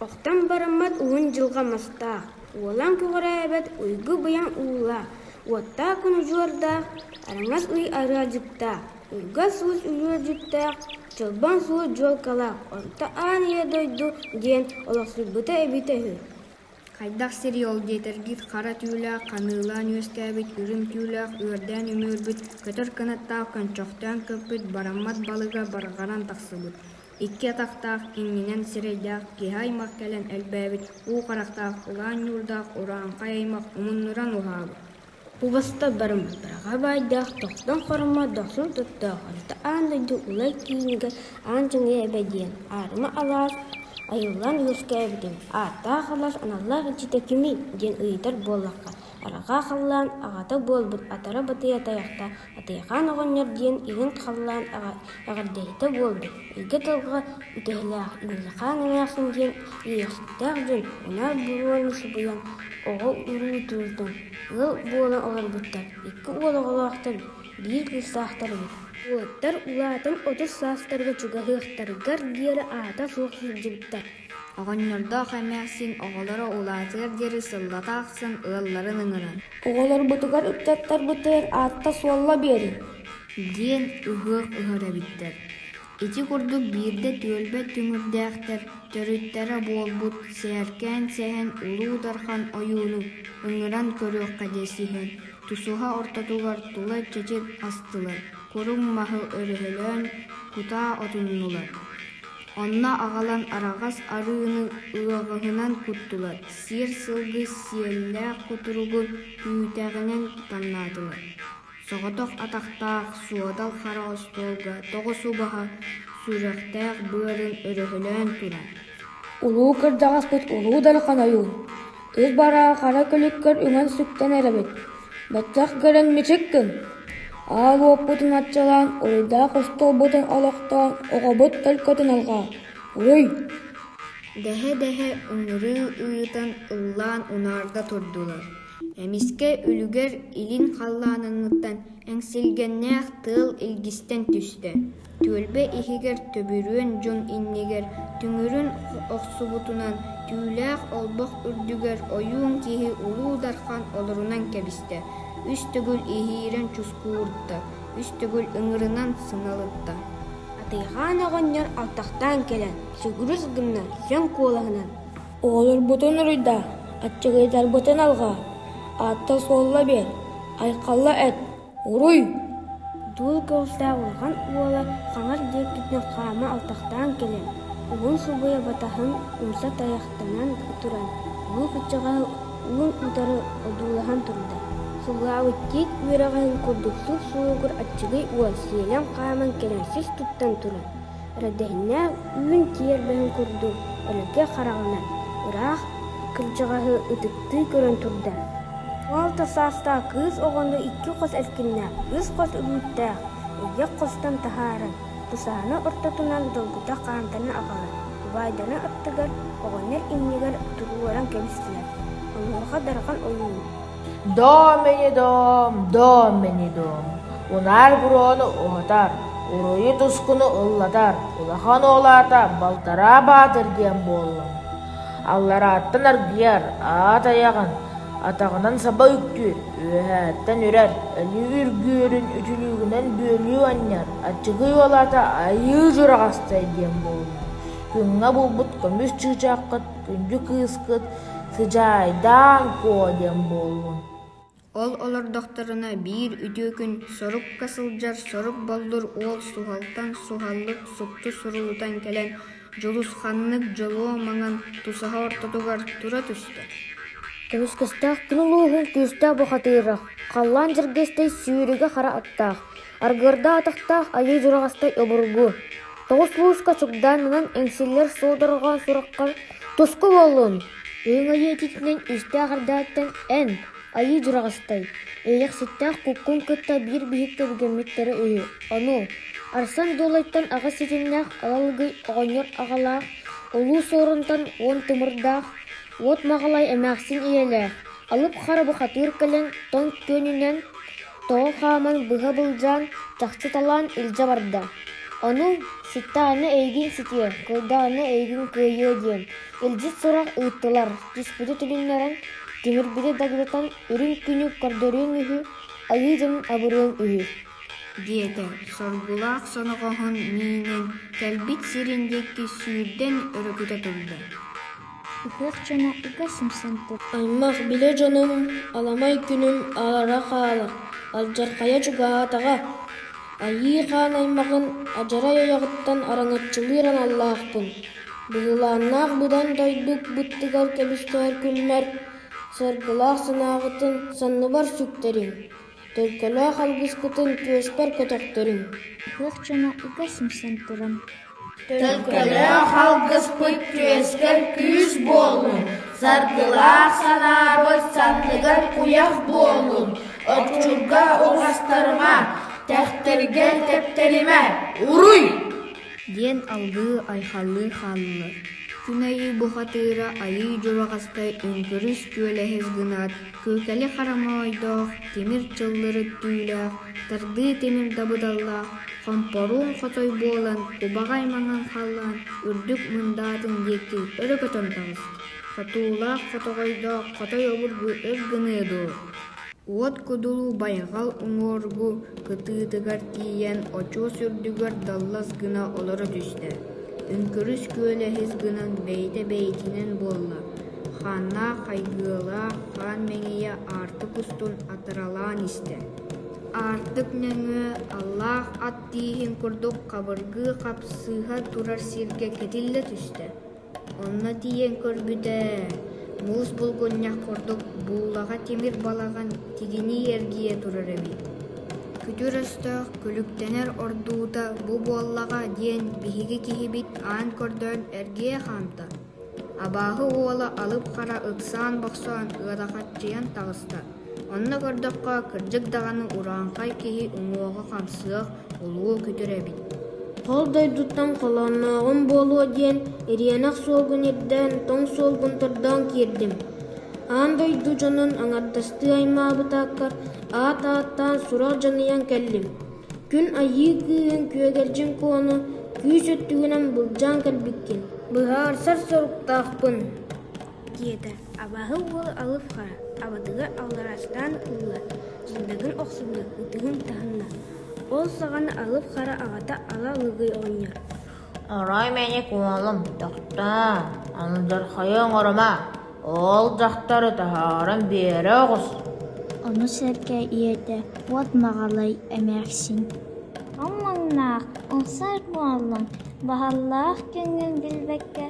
Охтон бараммат уһун дьылҕа мастаах, уолан көҕүрээбэт уйгу-быйаҥ уулаах, уоттаах кунудьуордаах, араҥас ый арыалдьыттаах, ылгас-суус үлүөрдьүттээх, чолбон суол дьуолкалаах, орто аан ийэ дойду диэн олохсуйбута эбитэ үһү Хайдах сирий ол диэтэр гид хара түүлээх ханыылаан үөскээбит үрүҥ түүлээх үөрдээн үмүөрбүт көтөр кынаттаах көнчөхтөөн көппүт бараммат балыга барҕаран тахсыбыт икки атахтаах иҥнинэн сирэйдээх киһи аймах кэлэн элбээбит уу харахтаах улаан ньуурдаах урааҥхай аймах умуннуран уһаабыт Убаста барыммыттарга баайдаах тохтон хорума дохсун туттаах орто аан дойду улай киинигэр аан дьиҥэ эбэ диэн аарыма алаас айыллан үөскээбитим ааттаах алаас аналлаах иччитэ кимий диэн ыйытар буоллахха арҕаа халлаан аҕата буолбут атара батыйа тайахта Атыйахаан оҕонньор диэн иһин халлаан эҕэрдэһитэ буолбут, эйгэ тылга үтэһэлээх Ыарыхаан эмээхсин диэн үөрэхситтээх дьон ынах буруону субуйан оҕо-уруутуутун ыал буола олорбуттар. Икки уол оҕолоохтор, биир кыыстаахтар эбит. Уолаттар улаатан отут саастарга чугаһыахтарыгар диэри аата суох сылдьыбыттар Оҕонньордоох эмээхсин оҕолоро улаатыар диэри сыллата ахсын ыалларын ыҥыран «Оҕолорбутугар ыччаттарбытыгар аатта-суолла биэриҥ» диэн ыһыах ыһар эбиттэр. Ити курдук биирдэ түөлбэ түҥүрдээхтэр төрүттэрэ буолбут Сээркээн Сэһэн Улуу Дархан ойууну ыҥыран көрүөххэ диэ сүһэн тусуһа ортотугар тула чэчир астылар, курум маһы өрөһөлөөн кутаа отуннулар Онно аҕалан араҕас арыыны ыаҕыһынан куттулар, сиэр-сылгы сиэллээх кутуругу түүтэҕинэн таҥнаатылар. Соҕотох атахтаах суодал хара остуолга тоҕус убаһа сүрэхтээх быарын өрөһөлөөн туран. Улуу кырдьаҕаспыт Улуу Дархан ойуун, Ил бараа хара күлүккэр үҥэн сүктэнэр эбит, баччах көрөн мичик гын, аал уоппутун аччалаан, уруйдаах остуолбутун олохтоон, оҕобут төлкөтүн алҕаа, уруй! дэһэ-дэһэ ыҥырыы ыйытан ыллаан унаарда турдулар, эмискэ үлүгэр илин халлааныҥҥыттан эҥсилгэннээх тыал илгистэн түстэ, түөлбэ иһигэр төбүрүөн дьон иннигэр түҥүрүн охсубутунан түүлээх олбох үрдүгэр ойуун киһи улуу дархан олорунан кэбистэ үс төгүл иһиирэн чускуурда үс төгүл ыҥырынан сыналытта атыйаан оҕонньор алтахтаан кэлэн сүгүрүс гынна сөҥ куолаһынан оҕолорбутун уруйда аччыгыйдарбытын алҕаа аатта-суолла биэр айхалла эт Уруй! Дуол көҕүстээх улахан уола хаҥас диэккиттэн хаама алтахтаан кэлэн, уһун субуйа батаһын умса тайахтанан туран, уу кыччаҕаһы уун утары одуулаһан турда. Сылаабыччыт үөрэҕин курдук сус-суругур аччыгый уол сиэлэн хааман кэлимсис туттан туран: эрэрдэһиннэ үүн киэрбэһин курдук элгэ хараҕынан ыраах кырдьаҕаһы ытыктыы көрөн турда уолта саастаах кыыс оҕону икки хос эркиннээх үс хос үгүттээх эйгэх хостон таһааран кусаана ортотунан долгута хаантаны аҕалан убаайдана аттыгар оҕонньор иннигэр туруоран кэбистилэр онуоха дархан ойуун Доом мэҥэ доом, доом мэҥэ доом, унаар буруону уһатар, уруйу тускуну ыллатар, улахан уолаата Балтараа Баатыр диэн буолла. Алларааттан аргыйар, аат айаҕын, атаҕынан саба үктүүр, үөһээттэн үрэр, өлүү үргүөрүн үтүлүүгүнэн бүөлүү анньар, аччыгый уолаата Айыы Дьураҕастай диэн буолла. Күҥҥэ булбут көмүс чыычааххыт Күндү кыыскыт сыдьаайдаан куо диэн буоллун Ол олордохторуна биир үтүө күн сорукка сылдьар сорук боллур уол суһалтан суһаллык супту суруулутан кэлэн дьулусханнык дьолуо маҥан тусаһа ортотугар тура түстэ Көмүскэстээх кини улууһун күүстээх бухатыыра, халлаан дьэргэстэй сүүрүгэ хара аттаах Аргыарда атахтаах айыы дьураҕастай обургу, тоҕус мууска чугдаан нанан эҥсиллэр суодурҕа сурахха туску буоллун! Өҥ айыы этитинэн үстээх эрдэҕиттэн эн, айыы дьураҕастай, эйэхситтээх куккуҥ кытта биир биһик кэбигэммиттэрэ үһү. Ону, Арсан Дуолайтан аҕыс ситимнээх Алалыгый оҕонньор аҕалаах, улуу Суорунтан уон тымырдаах, уот Маҕалай эмээхсин ийэлээх, алып хара бухатыыр кэлэн тоҥ күөнүнэн Тоҕо хааман быһа былдьаан, чахчы талаан илдьэ барда. Ону «Ситтаҕына эйигин ситиэ, кылдааҕына эйигин кыайыа» диэн илдьит сурах ыыттылар, түспүтү тилиннэрэн, түһэрбити дагытан үрүҥ күнүк көрдөрүөн үһү, айыы дьонун абырыан үһү. диэтэ соргулаах соноҕоһун миинэн кэлбит сирин диэки сүүрдэн өрүкүтэ турда Үһүөх дьоно үгүс юмсан тур Аймах билэ дьонум, аламай күнүм аара хаала, алдьархайа чугаһаатаҕа. Айыы Хаан аймаҕын адьарай ойоҕуттан араҥаччылыыр аналлаахпын. Быһылааннаах быдан дойдук быттыгар кэбистэр күммэр, саргылаах санааҕытын санныбар сүктэриҥ. Төлкөлөөх алгыскытын түөспэр көтөхтөрүҥ Туох дьоно үкэ симсэн туран Төлкөлөөх алгыспыт түөскэр күүс буоллун Саргылаах санаабыт санныгар куйах буоллун Оччурга уҥастарыма, тэхтэргэ тэптэримэ Уруй! диэн алгыы айхалыы хааллылар. Күн айыы бухатыыра айыы дьылҕастай өҥкүрүс күөлэһис гынаат Кыыкали хараҥа ойдоох, тимир чыллыр өттүүлээх, тардыы тимир дабыдаллаах, хомпоруун хотой буолан, кубаҕай маҥан халлаан үрдүк мындаатын диэки өрө көтөн таҕыста. Хотуулаах хотоҕойдоох хотой обургу өр гыныа дуо? Уот кудулу байҕал уҥуоргу кытыытыгар тиийэн очуос үрдүгэр даллас гына олоро түстэ. Үҥкүрүс күөлэһис гынан бэйитэ бэйитинэн буолла. Хааннаах хайгыалаах хаан мэҥийэ аартык устун атыралаан истэ. Аартык нөҥүө аллаах ат тииһин курдук хабыргыы хапсыһа турар сиргэ кэтиллэ түстэ. Онно тиийэн көрбүт ээ, муус булгунньах курдук буулаҕа тимир балаҕан тигинии эргийэ турар эбит. Күтүр өстөөх күлүктэнэр ордуута бу буоллаҕа диэн биһиги киһибит аан көрдөөн эргийэ хаамта Абааһы уола алып-хара ыксаан-бохсоон ыарахаччыйан таҕыста, онно көрдөххө, кырдьык даҕаны урааҥхай киһи уҥуоҕа-хамсыах, улуу-күтүр эбит Хол дойдуттан холооннооҕум буолуо диэн Ириэнэх суолгун ирдээн тоҥ суолгун тордоон киирдим. Аан дойду дьонун аҥардастыы аймаабытааккар аат ааттаан сураах дьаныйан кэллим Күн Айыы кыыһын Күөдэрдьин Куону күүс өттүгүнэн былдьаан кэлбиккин, быһаарсар соруктаахпын» диэтэ абааһы уол алыф хара абатыгар аллараастаан ылла, дьындагын охсубута ытыһын таһынна, ол саҕана алыф хара аҕата ала лыгый оҕонньор Арай мэник уолум: «Дьахтаа, андырхайы оҥорума, ол дьахтары таһааран биэрэ оҕус» Ону сэргэ ийэтэ «Уот Маҕалай эмээхсин» Омуҥнаах ылсар буоллуҥ, баһаллаах күҥҥүн билбэккэ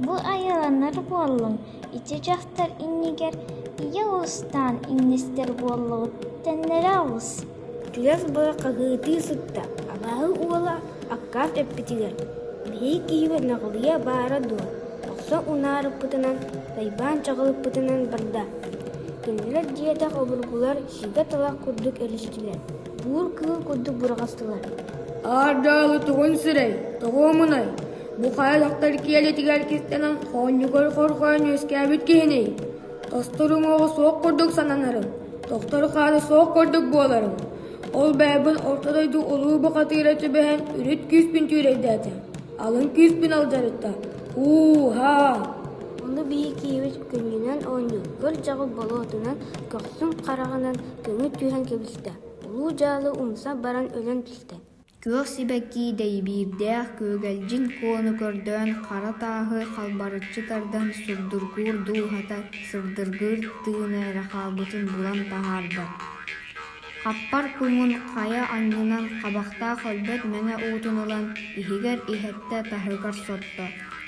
бу айыланар буоллуҥ, ити дьахтар иннигэр ийэ уустаан иҥнистэр буоллугут тэннэрэ оҕус Чугас быа хаһыытыы сытта, абааһы уола аккаат эппитигэр: «Биһиги киһибэ Наҕылыйа баара дуо, охсо унаарыппытынан, тайбаан чаҕылыппытынан барда». Кинилэр дьиэтэх обургулар сигэ-талах курдук өрүстүлэр, буур кыыл курдук бурҕастылар. «Аар дьааһы тугун сирэй, тоҕуомунай? Бу хайа дьахтар киэлитигэр кистэнэн хоонньугуй хорҕоон үөскээбит киһиний?» Осторуҥуоҕа суох курдук сананарым, тохтору хаары суох курдук буоларын, ол бэйэбин орто дойду улуу бухатыыра түбэһэн үрүт күүспүн түүрэйдээтэ, алын күүспүн алдьарытта, ууһаа! Ону бии киһибит күннүнэн оонньуур кырдьаҕы болуотунан көхсүн хараҕынан көҥүл түһэн кэбистэ, улуу дьаалы умса баран өлөн түстэ Күөх сибэкки дэйбиирдээх күөгэлдьин куону көрдөөн хара тааһы халбарыччы тардан сурдургуур дууһата сырдыргыыр тыына эрэ хаалбытын булан таһаарда хаппар куҥун хайа аннынан хабахтаах өлбөт мэҥэ уутун ылан иһигэр иһэттэ таһыгар сотто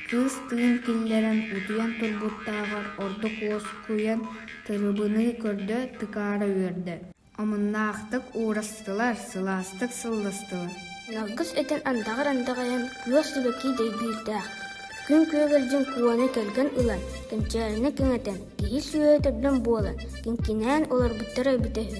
кыыс тыын киллэрэн утуйан турбуттааҕар ордук уоскуйан тырыбыныы көрдө тыкаара үөрдэ Омуннаахтык уурастылар, сылаастык сылластылар Ньалгыс этин андаҕар-андаҕайан күөх сибэкии дэйбиирдээх, күн күөгүлдьүн куона кэргэн ылан, кэнчээринэ кэҥэтэн, киһи сүөһү төрдөн буолан, киҥкинээн олорбуттара эбитэ үһү